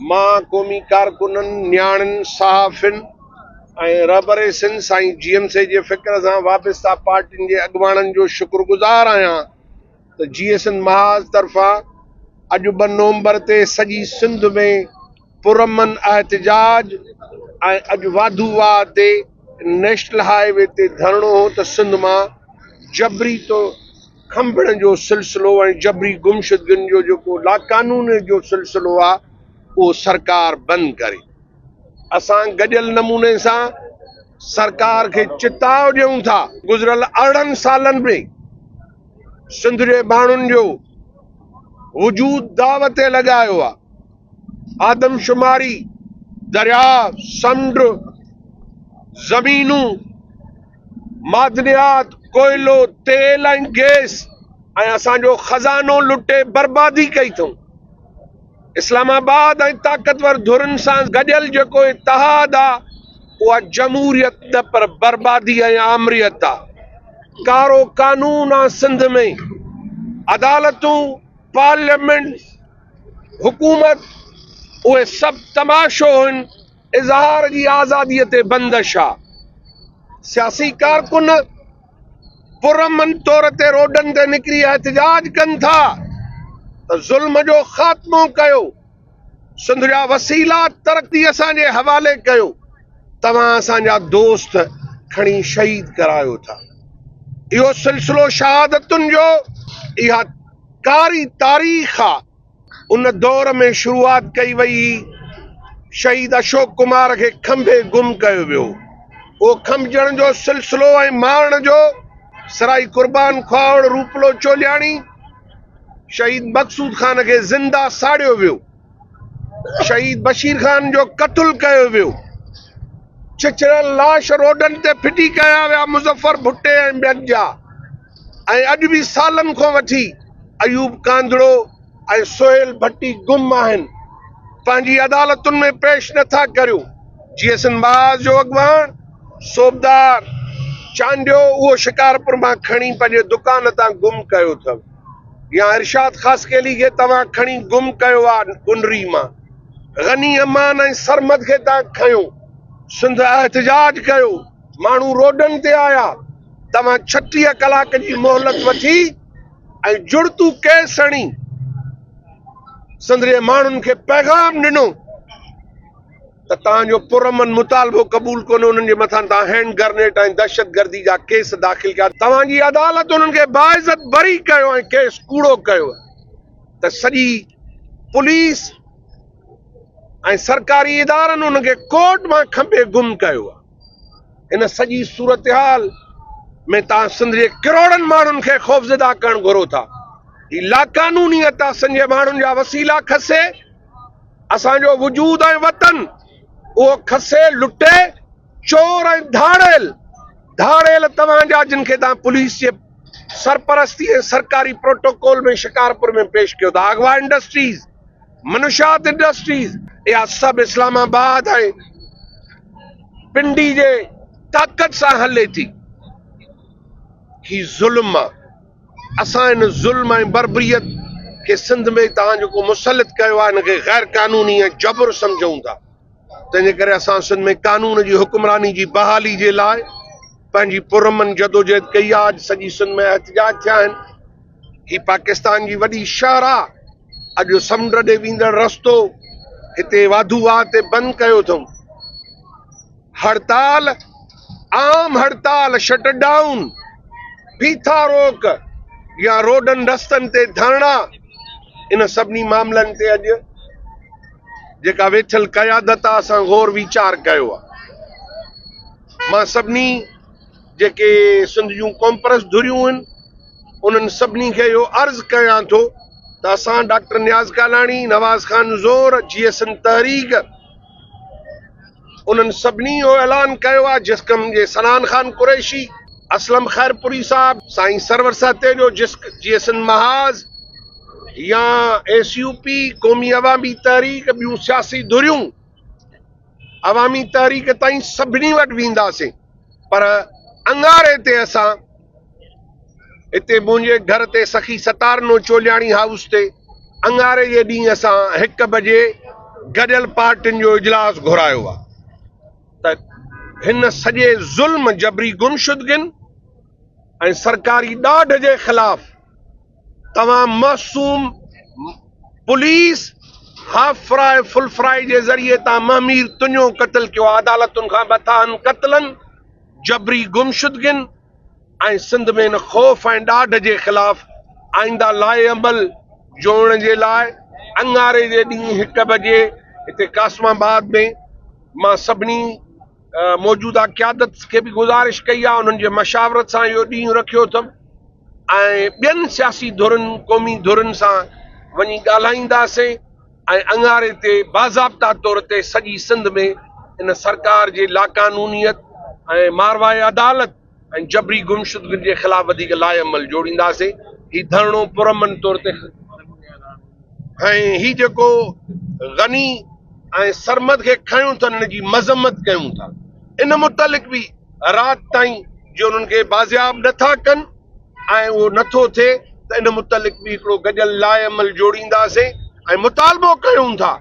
مان قومي ڪارڪنن، نياڻين، صحافين ۽ رھبريسين سائين جي ايم سي جي فڪر سان وابسته پارٽين جي اڳواڻن جو شڪرگذار آھيان ته جي ايس اين محاذ طرفان اڄ ٻه نومبر تي سڄي سنڌ ۾ پرامن احتجاج ۽ اڄ واڌو واھ تي نيشنل ھاء وي تي ڌرڻو ھو ته سنڌ مان جبري طور کنڀڻ جو سلسلو ۽ جبري گمشدگين جو جيڪو لاقانونيت جو سلسلو آهي اهو سرڪار بند ڪري. اسان گڏيل نموني سان سرڪار کي چتاء ڏيون ٿا. گذريل ارڙهن سالن ۾ سنڌ جي ماڻهن جو وجود داء تي لڳايو آهي. آدمشماري، درياء، سمنڊ، زمينون، معدنيات، ڪوئلو، تيل ۽ گيس ۽ اسان جو خزانو لٽي بربادي ڪئي اٿئون. اسلام آباد ۽ طاقتور ڌرين سان گڏيل جيڪو اتحاد آ اها جمهوريت نه پر بربادي ۽ آمريت آ. ڪارو قانون آ سنڌ ۾ عدالتون، پارليامينٽ، حڪومت اهي سڀ تماشو هن. اظهار جي آزادي تي بندش آ، سياسي ڪارڪن پرامن طور تي روڊن تي نڪري احتجاج ڪن ٿا ته ظلم جو خاتمو ڪيو، سنڌ جا وسيلا ترقي اسان جي حوالي ڪيو، توهان اسان جا دوست کڻي شهيد ڪرايو ٿا، اهو سلسلو شهادتن جو اها ڪاري تاريخ آ. ان دور ۾ شروعات ڪئي وئي هئي. شهيد اشوڪ ڪمار کي کنڀي گم ڪيو ويو هو. کنڀجڻ جو سلسلو ۽ مارڻ جو سرائي قربان کهاوڙ روپلو چولياڻي، شهيد مقصود خان کي زنده ساڙيو ويو. شهيد بشير خان جو قتل ڪيو ويو. ڇڇريل لاش روڊن تي ڦٽي ڪيا ويا. مظفر ڀٽي ۽ ٻين جا. ۽ اڄ به سالن کان وٺي ايوب ڪانڌڙو ۽ سهيل ڀٽي گم آهن پنهنجي عدالتن ۾ پيش نه ٿا ڪريو جي ايس اين باز جو اڳواڻ صوبدار چانڊيو اهو شڪارپور مان کڻي پنهنجي دڪان تان گم ڪيو اٿو يا ارشاد خاصخيلي کي توهان کڻي گم ڪيو آ ڪنري مان غني امان ۽ سرمد کي تان کنيو سنڌ احتجاج ڪيو. ماڻهو روڊن تي آيا، توهان ڇٽيهه ڪلاڪ جي مهلت وٺي ۽ جڙتو ڪيس هڻي سندري ماڻهن کي پيغام ڏنو ته توهان جو پرامن مطالبو قبول ڪونهي، انهن جي مٿان توهان هينڊ گرنيٽ ۽ دهشتگردي جا ڪيس داخل ڪيا، توهان جي عدالت انهن کي باعزت بري ڪيو ۽ ڪيس ڪوڙو ڪيو ته سڄي پوليس ۽ سرڪاري ادارن انهن کي ڪورٽ مان کنڀي گم ڪيو آهي. ان سڄي صورتحال ۾ توهان سنڌ جي ڪروڙن ماڻهن کي خوفزده ڪرڻ گهرو ٿا. هي لاقانونيت آ سنڌ جي ماڻهن جا وسيلا کسي، اسان جو وجود ۽ وطن اهو کسي لٽي چور ۽ ڌاڙيل ڌاڙيل توهان جا جن کي توهان پوليس جي سرپرستي ۽ سرڪاري پروٽوڪول ۾ شڪارپور ۾ پيش ڪيو ٿا اغوا انڊسٽريز منشات انڊسٽريز اها سڀ اسلام آباد ۽ پنڊي جي طاقت سان هلي ٿي. هي ظلم آ. اسان ان ظلم ۽ بربريت کي سنڌ ۾ توهان جيڪو مسلط ڪيو آ ان کي غيرقانوني ۽ جبر سمجهون ٿا. تنهن جي ڪري اسان سنڌ ۾ قانون جي حڪمراني جي بحالي جي لاء پنهنجي پرامن جدوجهد ڪئي آهي، اڄ سڄي سنڌ ۾ احتجاج ٿيا آهن، هي پاڪستان جي وڏي شاهراهه اڄ سمنڊ ڏي ويندڙ رستو هتي واڌو واهه تي بند ڪيو اٿئون، هڙتال عام هڙتال، شٽ ڊائون، بيٺا روڪ يا روڊن رستن تي ڌرڻا ان سڀني معاملن تي اڄ. جيڪا ويٺل قيادت آ اسان غور ويچار ڪيو آ مان سڀني جيڪي سنڌ جون ڪونپرس ڌريون ان انهن سڀني کي اهو عرض ڪيان ٿو ته اسان ڊاڪٽر نياز ڪالاڻي نواز خان زور جي ايس ان تحريڪ انهن سڀني اهو اعلان ڪيو آهي جسقم جي سنان خان قريشي، اسلم خيرپوري صاحب، سائين سرور سهتيجو، جسق جي سنڌ محاذ يا ايس يو پي، قومي عوامي تحريڪ، ٻيون سياسي ڌريون عوامي تحريڪ تائين سڀني وٽ وينداسين پر اڱاري تي اسان اتي منهنجي گهر تي سخي ستارنو چولياڻي هائوس تي اڱاري جي ڏينهن اسان هڪ بجي گڏيل پارٽين جو اجلاس گهرايو ها ته هن سڄي ظلم، جبري گمشدگين ۽ سرڪاري ڏاڍ جي خلاف توهان معصوم پوليس هافراء فلفراء جي ذريعي تان مهمير تنيو قتل ڪيو عدالتن کان مٿاهن قتلن، جبري گمشدگين، ۽ سنڌ ۾ ان خوف ۽ ڏاڍ جي خلاف آئينده لائحه عمل جوڙڻ جي لاء اڱاري جي ڏينهن هڪ بجي هتي قاسم آباد ۾ مان سڀني موجوده قيادت کي به گذارش ڪئي آهي انهن جي مشاورت سان اهو ڏينهن رکيو اٿم ۽ ٻين سياسي ڌرين قومي ڌرين سان وڃي ڳالهائينداسين. ۽ اڱاري تي باضابطا طور تي سڄي سنڌ ۾ ان سرڪار جي لاقانونيت ۽ ماروائي عدالت ۽ جبري گمشدگين جي خلاف وڌيڪ لائحه عمل جوڙينداسين. هي ڌرڻو پرامن طور تي ۽ هي جيڪو غني ۽ سرمد کي کنيون ٿا ان جي مذمت ڪيون ٿا ان متعلق به رات تائين جي انهن کي بازياب نه ٿا ڪن. ۽ اهو نه ٿو ٿئي ته ان متعلق به هڪڙو گڏيل لائحه عمل جوڙينداسين ۽ مطالبو ڪيون ٿا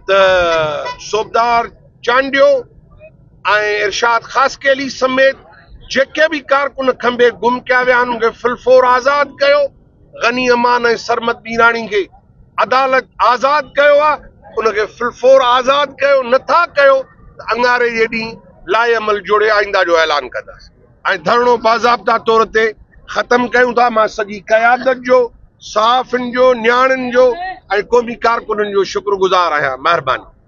ته صوبدار چانڊيو ۽ ارشاد خاصخيلي سميت جيڪي به ڪارڪن کنڀي گم ڪيا ويا آهن انهن کي فلفور آزاد ڪيو غني امان ۽ سرمد ميراڻي کي عدالت آزاد ڪيو آهي ان کي فلفور آزاد ڪيو نه ٿا ڪيو ته اڱاري جي ڏينهن لائحه عمل جوڙي آئينده جو اعلان ڪنداسين. ۽ ڌرڻو باضابطا طور تي ختم ڪيون ٿا، مان سڄي قيادت جو، صحافين جو، نياڻين جو ۽ قومي ڪارڪنن جو شڪر گذار آهيان، مهرباني.